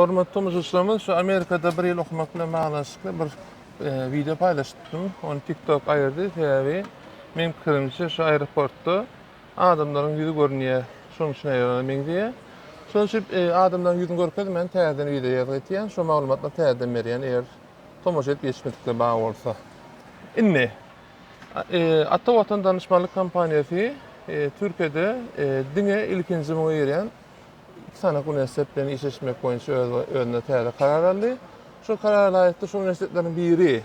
Hormatly tomaşaçylarymyz, şu Amerikada bir ýyl okamak bilen baglanyşykly bir wideo paýlaşypdym. Ony TikTok aýyrdy, sebäbi meniň pikirimçe şu aeroportda adamlaryň ýüzi görünýär. Şonuň üçin aýyrana meňzeýär. Şonuň üçin e, adamlaryň ýüzüni görkezmän täzeden wideo ýazgy etýän. Şu maglumatlary täzeden berýän eger tomaşa edip geçmedikler bar bolsa. Indi e, Ata Watan danyşmanlyk kompaniýasy e, Türkiýede e, diňe ilkinji muňa girýän iki sany uniwersitet bilen işleşmek boýunça öz özüne täze karar aldy. Şu karara laýykda şu uniwersitetleriň biri,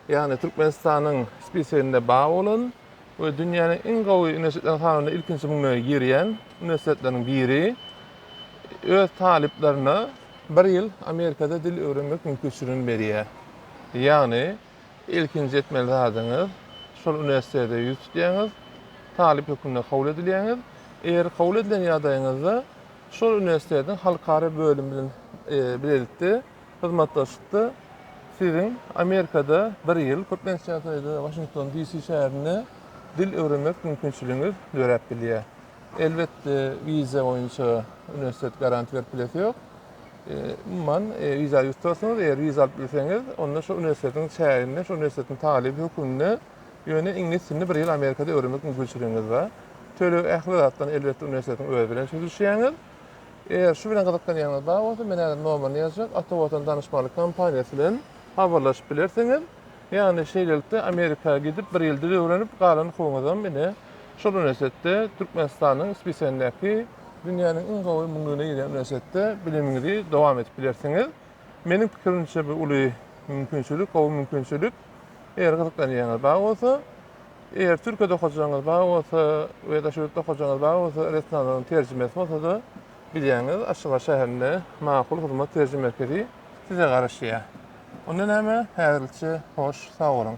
ýagny Türkmenistanyň spiseginde bar bolan we dünýäniň iň gowy uniwersitetler sanawyna ilkinji müňlüge girýän uniwersitetleriň biri öz talyplaryna bir ýyl Amerikada dil öwrenmek mümkinçiligini berýär. Ýagny Ilkinji etmeli zadyňyz, şol uniwersitete ýüz tutýaňyz, talyp hökmünde kabul edilýäňiz. Eger kabul edilen ýagdaýyňyzda şol uniwersitetiň halkara bölümi bilen bilelikde hyzmatdaşlykda siziň Amerikada bir ýyl, köplenç ýagdaýda Waşington DC şäherinde dil öwrenmek mümkinçiligiňiz döräp bilýär. Elbetde wiza boýunça uniwersitet garant berip bilesi ýok. Umuman, wiza ýüz tutarsyňyz. Eger wiza alyp bilseňiz, onda şol uniwersitetiň çäginde, şol uniwersitetiň talyby hökmünde, ýöne iňlis dilini bir ýyl Amerikada öwrenmek mümkinçiligiňiz bar. Töleg, ähli zatdan, elbetde, uniwersitetiň özi bilen çözüşýäňiz. Eger şu bilen gyzyklanýanyňyz bar bolsa, men häzir nomerini ýazjak, Ata Watan Danyşmanlyk kompaniýasy bilen habarlaşyp bilersiňiz. Ýagny, şeýlelikde, Amerika gidip, bir ýyl dil öwrenip, galan hukugyňyzam ine, şol uniwersitetde, Türkmenistanyň Spisiýandaky, Dünýäniň iň gowy müňlügine girýän uniwersitetde bilimiňizi dowam edip bilersiňiz. Meniň pikirimçe bu uly mümkinçilik, gowy mümkinçilik. Eger gyzyklanýaňyz bar bolsa, eger Türkiýede okajagyňyz bar bolsa we daşary ýurtda okajagyňyz bar bolsa, resminalaryň terjimesi bolsa-da bilýäňiz, Aşgabat şäherinde Makul hyzmat terjime merkezi size garaşýar. Onda näme, häzirlikçe hoş, sag boluň!